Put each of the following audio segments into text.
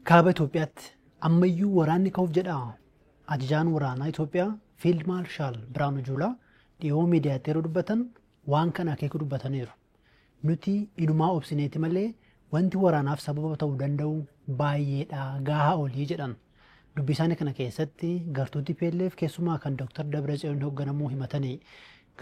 Kaaba Itoophiyaatti ammayyuu waraanni ka'uuf jedha. Ajajaan waraanaa Itoophiyaa Fiild Maarshaal Biraanuu Juulaa dhiyoo miidiyaatti yeroo dubbatan waan kana akeeku dubbataniiru. Nuti inumaa obsineeti malee wanti waraanaaf sababa ta'uu danda'u baay'eedha gaahaa olii jedhan. Dubbii isaanii kana keessatti gartuu TPLF keessumaa kan Dr. Dabratsiyoon hoogganamuu himatanii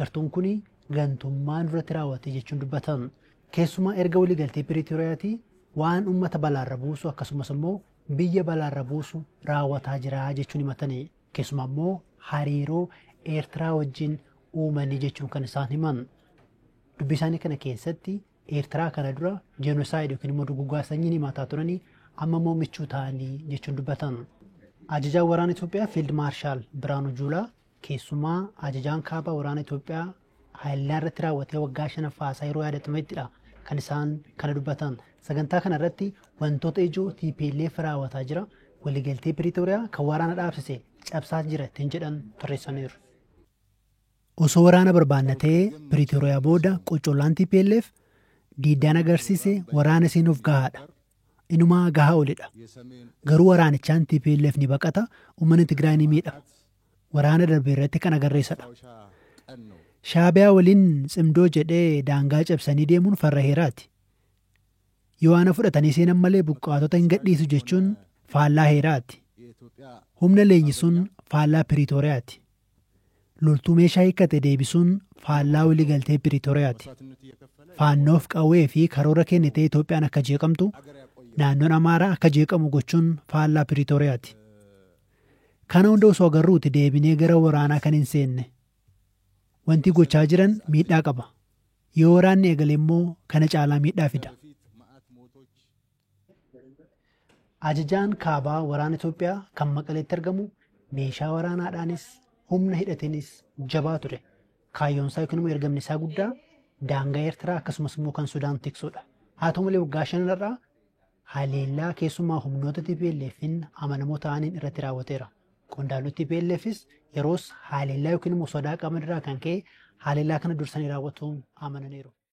gartuun kun gantummaa nurratti raawwate jechuun dubbatan. Keessumaa erga waliigaltee Piriitoriyaatii waan ummata balaarra buusu akkasumas ammoo biyya balaarra buusu raawwataa jira jechuun himatani. Keessumaa ammoo hariiroo Eertiraa wajjin uumanii jechuun kan isaan himan. Dubbii isaanii kana keessatti Eertiraa kana dura jenosaayid yookiin immoo dugugaa sanyiin himataa turanii amma immoo michuu ta'anii jechuun dubbatan. Ajajaan waraana Itoophiyaa Fiild Maarshaal Biraanuu Juulaa Keessumaa ajajaan kaabaa waraana Itoophiyaa haleellaa irratti raawwatee waggaa shanaffaa isaa yeroo yaadatamettidha kan isaan kana dubbatan. Sagantaa kana irratti wantoota ijoo TPLF raawwataa jira, waliigaltee Piriitooriyaa kan waraana dhaabsise cabsaa jira ittiin jedhan tarreessaniiru. Osoo waraana barbaanna ta'ee Piriitooriyaa booda qoccollaan TPLF diiddaan agarsiise waraana seenuuf gahaadha. Inumaa gahaa olidha. Garuu waraanichaan TPLF ni baqata, uummanni Tigraay ni miidhama. waraana darbe irratti kan agarre isadha. Shaabiyaa waliin tsimdoo jedhee daangaa cabsanii deemuun farra heeraati. Yoo ana fudhatanii seenan malee buqqaatota hin gadhiisu jechuun faallaa heeraati. Humna leenjisuun faallaa Piriitooriyaati. Loltuu meeshaa hiikkate deebisuun faallaa waliigaltee Piriitooriyaati. Faannoof qawwee fi karoora kennitee Itoophiyaan akka jeeqamtu, naannoon Amaaraa akka jeeqamu gochuun faallaa Piriitooriyaati. Kana hunda osoo agarruuti deebinee gara waraanaa kan hin seenne. Wanti gochaa jiran miidhaa qaba. Yoo waraanni eegale immoo kana caalaa miidhaa fida. Ajajaan kaabaa waraana Itoophiyaa kan Maqaleetti argamu meeshaa waraanaadhaanis humna hidhateenis jabaa ture. Kaayyoon isaa yookiin immoo ergamni isaa guddaa daangaa Eertiraa akkasumas immoo kan Sudaan tiksuudha. Haa ta'u malee waggaa shanan har'aa haleellaa keessumaa humnoota TPLF'n amanamoo ta'aniin irratti raawwateera. Qondaalonni TPLFs yeroos haleellaa yookiin immoo sodaa qaban irraa kan ka'e haleellaa kana dursanii raawwatuun amananiiru.